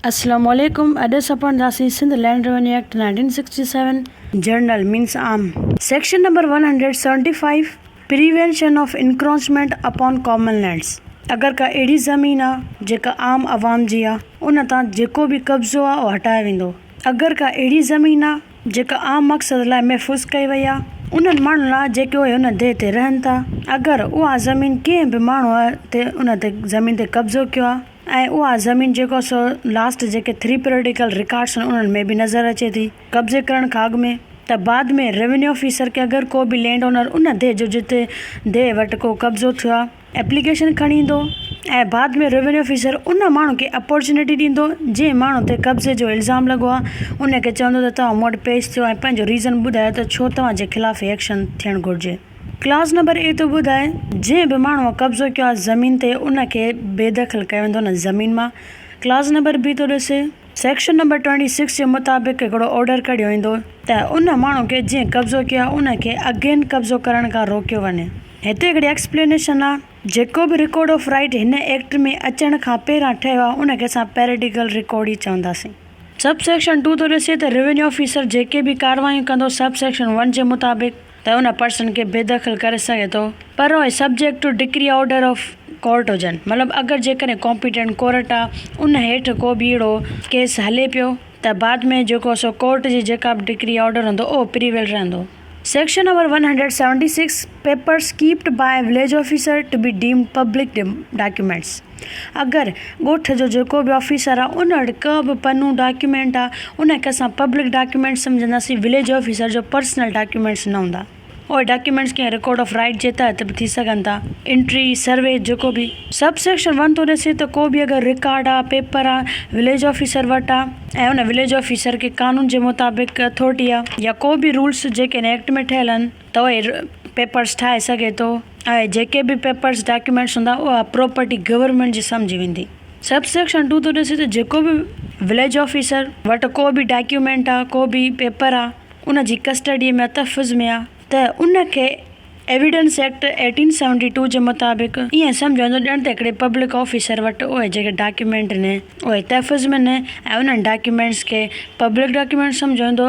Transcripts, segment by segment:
السلام عليڪم اڄ اسان پڙهنداسين Sindh land revenue act nineteen sixty seven general means عام section number one hundred seventy five prevention of encroachment upon common lands اگر ڪا اهڙي زمين آ جيڪا عام عوام جي آ ان تان جيڪو به قبضو آ اهو هٽايو ويندو اگر ڪا اهڙي زمين آ جيڪا عام مقصد لاء محفوظ ڪئي وئي آهي، انهن ماڻهن لاء جيڪي اهي ان ديهه تي رهن ٿا، اگر اها زمين ڪنهن به ماڻهوء تي ان تي زمين تي قبضو ڪيو آهي ۽ اها زمين جيڪو آهي سو لاسٽ جيڪي ٿري پريڊيڪل رڪارڊس آهن انهن ۾ به نظر اچي ٿي قبضي ڪرڻ کان اڳ ۾ ته بعد ۾ روينيو آفيسر کي اگر ڪو به لينڊ اونر ان ديهه جو جتي ديهه وٽ ڪو قبضو ٿيو آهي. ايپليڪيشن کڻي ايندو ۽ بعد ۾ روينيو آفيسر ان ماڻهو کي اپارچونيٽي ڏيندو جنهن ماڻهو تي قبضي جو الزام لڳو آهي ان کي چوندو ته توهان مون وٽ پيش ٿيو ۽ پنهنجو ريزن ٻڌايو ته ڇو توهان جي خلاف هي ايڪشن ٿيڻ گهرجي. ڪلاز نمبر اي ٿو ٻڌائي جنهن به ماڻهوء قبضو ڪيو آهي زمين تي ان کي بيدخل ڪيو ويندو ان زمين مان. ڪلاز نمبر بي ٿو ڏسي. سيڪشن نمبر ٽوئنٽي سڪس جي مطابق هڪڙو آرڊر ڪڍيو ويندو ته ان ماڻهو کي جنهن قبضو ڪيو آهي ان کي اگين قبضو ڪرڻ کان روڪيو وڃي. هتي هڪڙي ايڪسپلينيشن آهي. جيڪو به رڪارڊ آف رائيٽ هن ايڪٽ ۾ اچڻ کان پهريان ٺهيو آهي ان کي اسان پيريڊيڪل رڪارڊ ئي چونداسين. سب سيڪشن ٽو ٿو ڏسي ته روينيو آفيسر جيڪي به ڪارروايون ڪندو سب سيڪشن ون جي مطابق ته ان پرسن کي بيدخل ڪري سگهي ٿو پر اهي subject to decree order of court هجن مطلب اگر جيڪڏهن ڪامپيٽنٽ ڪورٽ آ ان هيٺ ڪو به اهڙو ڪيس هلي پيو ته بعد ۾ جيڪو سو ڪورٽ جي جيڪا به ڊڪري آرڊر هوندو اهو پريويل رهندو. Section number one hundred seventy six papers kept by village officer to be deemed public documents. اگر ڳوٺ جو جيڪو به آفيسر آ ان وٽ ڪا به پنو ڊاڪيومينٽ آ ان کي اسان پبلڪ ڊاڪيومينٽ سمجهنداسين وليج آفيسر جو پرسنل ڊاڪيومينٽس نه هوندا اهي ڊاڪيومينٽس ڪنهن رڪارڊ آف رائيٽ جي تحت به ٿي سگهن ٿا انٽري سروي جيڪو به سب سيڪشن ون ٿو ڏسي ته ڪو به اگر رڪارڊ آ پيپر آ وليج آفيسر وٽ آ ۽ ان وليج آفيسر کي قانون جي مطابق اٿارٽي آ يا ڪو به رولس جيڪي ان ايڪٽ ۾ ٺهيل آهن تو اهي پيپرس ٺاهي سگهي ٿو اهي جيڪي به پيپرس ڊاڪيومينٽس هوندا اها پروپرٽي گورنمينٽ جي سمجهي ويندي سب سيڪشن ٽو ٿو ڏسي ته جيڪو به وليج آفيسر وٽ ڪو به ڊاڪيومينٽ آ ڪو به پيپر آ ان جي ڪسٽڊي ۾ تحفظ ۾ آ ته ان کي evidence act eighteen seventy two جي مطابق ايئن سمجهيو ويندو ڄڻ ته هڪڙي پبلڪ آفيسر وٽ اهي جيڪي ڊاڪيومينٽ ني اهي تحفظ ۾ ني ۽ انهن ڊاڪيومينٽس کي پبلڪ ڊاڪيومينٽس سمجهيو ويندو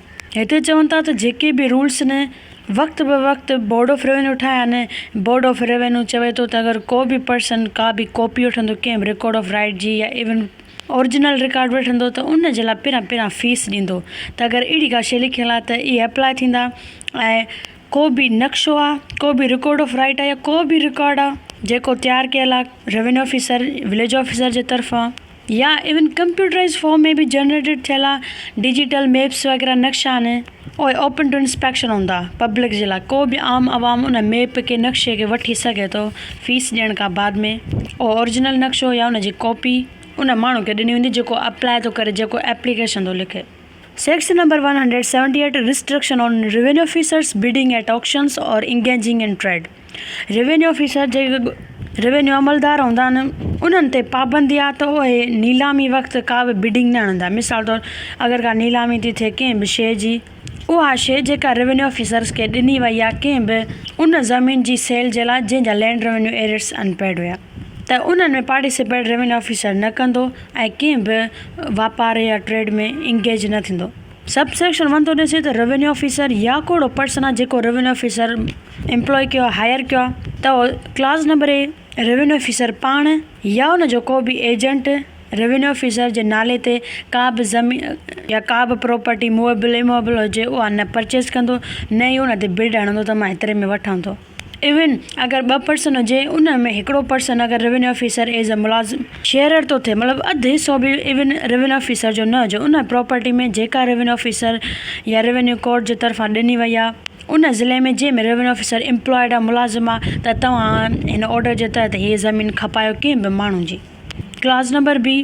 هتي چون ٿا ته جيڪي به رولس نه وقت به وقت بورڊ آف روينو ٺاهيا نه بورڊ آف روينو چوي ٿو ته اگر ڪو به پرسن ڪا به ڪاپي وٺندو ڪنهن به رڪارڊ آف رائيٽ جي يا ايون اورجنل رڪارڊ وٺندو ته ان جي لاء پهريان پهريان فيس ڏيندو ته اگر اهڙي ڪا شي لکيل آهي ته اهي اپلاء ٿيندا ۽ ڪو به نقشو آهي ڪو به رڪارڊ آف رائيٽ آهي يا ڪو به رڪارڊ آهي جيڪو تيار ڪيل آهي روينو آفيسر وليج آفيسر جي طرفان يا ايون ڪمپيوٽرائيز فارم ۾ به جنريٽيڊ ٿيل ڊجيٽل ميپس وغيره نقشا آهن اهي اوپن ٽو انسپيڪشن هوندا پبلڪ جي لاء ڪو به عام عوام ان ميپ کي نقشي کي وٺي سگهي ٿو فيس ڏيڻ کان بعد ۾ اهو اورجنل نقشو يا ان جي ڪاپي ان ماڻهو کي ڏني ويندي جيڪو اپلائي ٿو ڪري جيڪو ايپليڪيشن ٿو لکي. Section number one hundred seventy eight restriction on revenue officers bidding at auctions اور engaging in trade. Revenue officer جي روينيو عملدار هوندا آهن انهن تي پابندي آهي ته اهي نيلامي وقت ڪا به بڊنگ نه آڻيندا مثال طور اگر ڪا نيلامي ٿي ٿئي ڪنهن به شيء جي اها شيء جيڪا روينيو آفيسرس کي ڏني وئي آهي ڪنهن به ان زمين جي سيل جي لاء جنهن جا land revenue arrears unpaid هيا ته انهن ۾ پارٽيسپيٽ روينيو آفيسر نه ڪندو ۽ ڪنهن به واپار يا ٽريڊ ۾ انگيج نه ٿيندو. سب سيڪشن ون ٿو ڏسي ته روينيو آفيسر يا ڪو اهڙو پرسن آهي جيڪو روينيو آفيسر امپلوئي ڪيو آهي هائير ڪيو آهي ته clause number A revenue officer پاڻ يا ان جو ڪو به ايجنٽ روينيو آفيسر جي نالي تي ڪا به زمين يا ڪا به پراپرٽي موويبل اموويبل هجي اها نه پرچيز ڪندو نه ئي ان تي بڊ هڻندو ته مان هيتري ۾ وٺان ٿو ايون اگر ٻه پرسن هجي ان ۾ هڪڙو پرسن اگر روينيو آفيسر ايز اي ملازم شيئرر ٿو ٿئي مطلب اڌ حصو به ايون روينيو آفيسر جو نه هجي ان پراپرٽي ۾ جيڪا روينيو آفيسر يا روينيو ڪورٽ جي طرفان ڏني وئي آ ان ضلعي ۾ جنهن ۾ روينيو آفيسر امپلائيڊ آ ملازم آ ته توهان هن آرڊر جي تحت هيء زمين کپايو ڪنهن به ماڻهو جي ڪلاز نمبر بي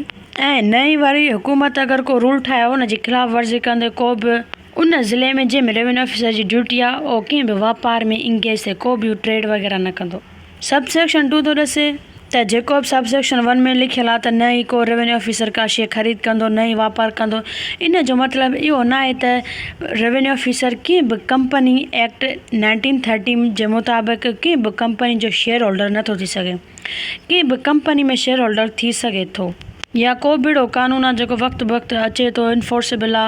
۽ نئين واري حڪومت اگر ڪو رول ٺاهي ان جي خلاف ورزي ڪندي ڪو به. ان ضلعي ۾ جنهن ۾ روينيو آفيسر جي ڊيوٽي آ اهو ڪنهن به واپار ۾ انگيز ٿي ڪو به ٽريڊ وغيره نه ڪندو سب سيڪشن ٽو ٿو ڏسي ته جيڪو به سب سيڪشن ون ۾ لکيل آ ته نه ئي ڪو روينيو آفيسر ڪا شي خريد ڪندو نه ئي واپار ڪندو ان جو مطلب اهو ناهي ته روينيو آفيسر ڪنهن به ڪمپني ايڪٽ نائنٽين ٿرٽي جي مطابق ڪنهن به ڪمپني جو شيئر هولڊر نه ٿو ٿي سگهي ڪنهن به ڪمپني ۾ شيئر هولڊر ٿي سگهي ٿو يا ڪو به اهڙو قانون آ جيڪو وقت بوقت اچي ٿو انفورسبل آ.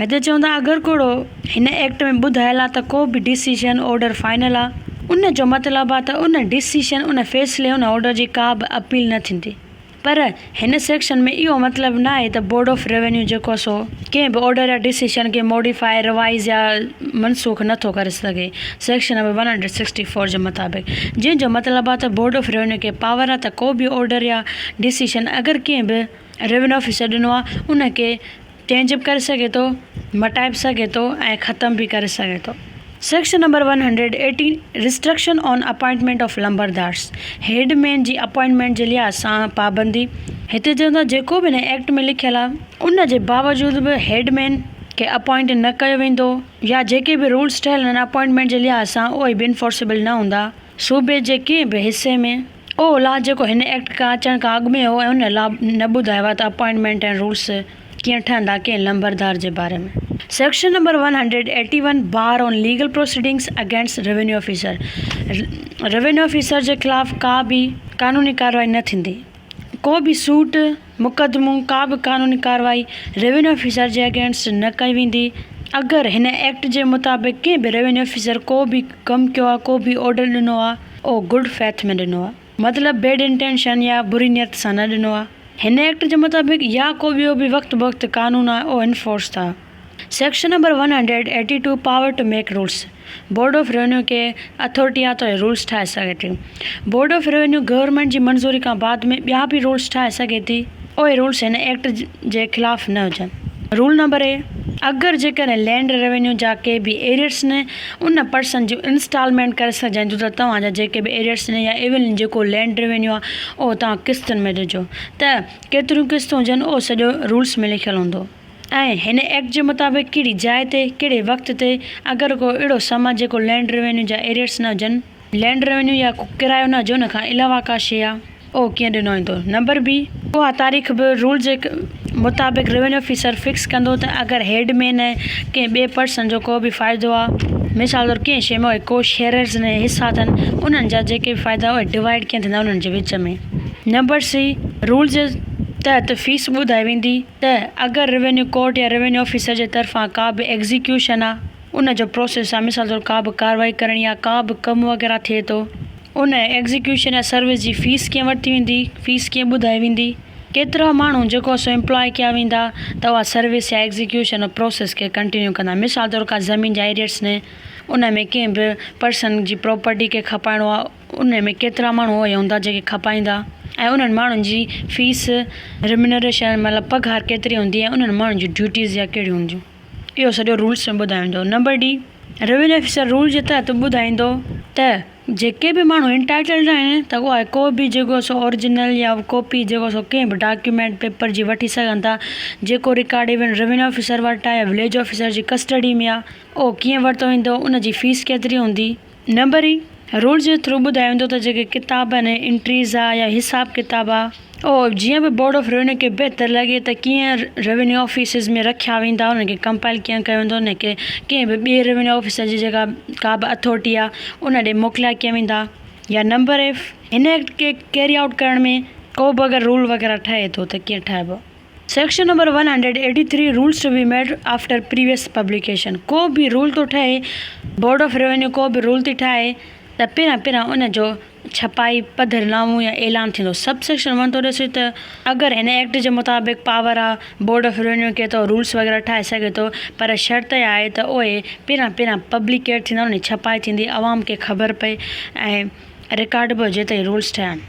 هتي چون ٿا اگر ڪوڙو هن ايڪٽ ۾ ٻڌايل آ ته ڪو به ڊسيشن، آرڊر فائنل آ، ان جو مطلب آ ته ان ڊسيشن، ان فيصلي، ان آرڊر جي ڪا به اپيل نه ٿيندي پر هن سيڪشن ۾ اهو مطلب نه آهي ته بورڊ آف روينيو جيڪو آ سو ڪنهن به آرڊر يا ڊسيشن کي موڊيفائي، ريوائيز يا منسوخ نه ٿو ڪري سگهي section number one hundred sixty four جي مطابق جنهن جو مطلب آ ته بورڊ آف روينيو کي پاور آ ته ڪو به آرڊر يا ڊسيشن اگر ڪنهن به روينيو آفيسر ڏنو آ ان کي چينج به ڪري سگهي ٿو مٽائي به سگهي ٿو ۽ ختم به ڪري سگهي ٿو section number one hundred eighty restriction on appointment of lambardars headman جي اپوائنٽمينٽ جي لحاظ سان پابندي هتي چون ٿا جيڪو به هن ايڪٽ ۾ لکيل آهي ان جي باوجود به هيڊ مين کي اپوائنٽ نه ڪيو ويندو يا جيڪي به رولس ٺهيل آهن اپوائنٽمينٽ جي لحاظ سان اهي به انفورسيبل نه هوندا صوبي جي ڪنهن به حصي ۾ اهو الاء جيڪو هن ايڪٽ کان اچڻ کان اڳ ۾ هو ۽ ان الاء نه ٻڌايو آهي ته اپائنٽمينٽ ۽ رولز ڪيئن ٺهندا ڪنهن لمبردار جي باري ۾. Section number one hundred eighty one bar on legal proceedings against revenue officer, revenue officer جي خلاف ڪا به قانوني ڪارروائي نه ٿيندي، ڪو به سوٽ، مقدمو، ڪا به قانوني ڪارروائي روينيو آفيسر جي اگينسٽ نه ڪئي ويندي، اگر هن ايڪٽ جي مطابق ڪنهن به روينيو آفيسر ڪو به ڪم ڪيو آهي، ڪو به آرڊر ڏنو آهي، اهو گڊ فيٿ ۾ ڏنو آهي، مطلب بيڊ انٽينشن يا بري نيت سان نه ڏنو آهي، هن ايڪٽ جي مطابق يا ڪو ٻيو به وقت بوقت قانون آهي، اهو انفورس ٿا. Section number one hundred eighty two power to make rules, board of revenue ڪي اٿارٽيان توهين رولس ٺاهي سگهي ٿي. بورڊ آف روينيو گورنمينٽ جي منظوري کان بعد ۾ ٻيا به رولس ٺاهي سگهي ٿي. اهي رولس هن ايڪٽ جي خلاف نه هجن. رول نمبر اي، اگر جيڪڏهن لينڊ روينيو جا ڪي به ايريئرس نه ان پرسن جون انسٽالمينٽ ڪري سگهجن ٿيون ته توهان جا جيڪي به ايريئرس نه يا ايون جيڪو لينڊ روينيو آهي اهو توهان قسطن ۾ ڏجو ته ڪيتريون قسطون هجن اهو سڄو رولس ۾ لکيل هوندو. ۽ هن ايڪٽ جي مطابق ڪهڙي جاء تي، ڪهڙي وقت تي، اگر ڪو اهڙو سامان جيڪو لينڊ روينيو جا ايريئرس نه هجن، لينڊ روينيو يا ڪو ڪرايو نه هجي ان کان علاوه ڪا شيء آ، اهو ڪيئن ڏنو ويندو. نمبر بي، اها تاريخ به رول جي مطابق روينيو آفيسر فڪس ڪندو ته اگر هيڊ مين ۽ ڪنهن ٻئي پرسن جو ڪو به فائدو آ، مثال طور ڪنهن شيء ۾ اهي ڪو شيئررز ۽ حصا اٿن، انهن جا جيڪي به فائدا اهي ڊوائيڊ ڪيئن ٿيندا انهن جي وچ ۾. نمبر سي، رول جي تحت فيس ٻڌائي ويندي. ته اگر روينيو ڪورٽ يا روينيو آفيسر جي طرفان ڪا به ايگزيڪيوشن آ ان جو پروسيس آ مثال طور ڪا به ڪارروائي ڪرڻي آ ڪا به ڪم وغيره ٿئي ٿو ان ايگزيڪيوشن يا سروس جي فيس ڪيئن ورتي ويندي فيس ڪيئن ٻڌائي ويندي ڪيترا ماڻهو جيڪو سو امپلاء ڪيا ويندا ته اها سروس يا ايگزيڪيوشن يا پروسيس کي ڪنٽينيو ڪندا مثال طور ڪا زمين جا ايريئرس ني ان ۾ ڪنهن به پرسن جي پراپرٽي کي کپائڻو آ انهن ۾ ڪيترا ماڻهو اهي هوندا جيڪي کپائيندا ۽ انهن ماڻهن جي فيس، Remuneration، مطلب پگهار ڪيتري هوندي ۽ انهن ماڻهن جون ڊيوٽيز يا ڪهڙيون هونديون اهو سڄو رولز ۾ ٻڌايو ويندو. Number D, Revenue Officer rules جي تحت ٻڌائيندو ته جيڪي به ماڻهو Entitled آهن ته اهي ڪو به جيڪو سو Original يا ڪاپي جيڪو سو ڪنهن به ڊاڪيومينٽ، پيپر، جي وٺي سگهن ٿا جيڪو رڪارڊ ايون Revenue Officer وٽ آهي يا Village Officer جي ڪسٽڊي ۾ آهي اهو ڪيئن ورتو ويندو ان جي فيس ڪيتري هوندي. نبري، رول جي ٿرو ٻڌايو ويندو ته جيڪي ڪتاب ۽ انٽريز آ يا حساب ڪتاب آ اهو جيئن به بورڊ آف روينيو کي بهتر لڳي ته ڪيئن روينيو آفيسز ۾ رکيا ويندا انهن کي ڪمپائل ڪيئن ڪيو ويندو انهن کي ڪنهن به ٻي روينيو آفيسر جي جيڪا ڪا به اٿورٽي آ ان ڏي موڪليا ڪيئن ويندا يا نمبر ايف هن ايڪٽ کي ڪيري آئوٽ ڪرڻ ۾ ڪو به اگر رول وغيره ٺهي ٿو ته ڪيئن ٺهبو. Section number one hundred eighty three rules to be made after previous publication ڪو به رول ٿو ٺهي بورڊ آف روينيو ڪو به رول ٿي ٺاهي ته پهريان پهريان ان جو ڇپائي پڌر نامو يا اعلان ٿيندو سب سيڪشن ون ٿو ڏسي ته اگر هن ايڪٽ جي مطابق پاور آ بورڊ آف روينيو کي ته رولز وغيره ٺاهي سگهي ٿو پر شرط اها آهي ته اهي پهريان پهريان پبليڪيٽ ٿيندا يعني ڇپائي ٿيندي عوام کي خبر پئي ۽ رڪارڊ به هجي ته هي رولز ٺهيا آهن.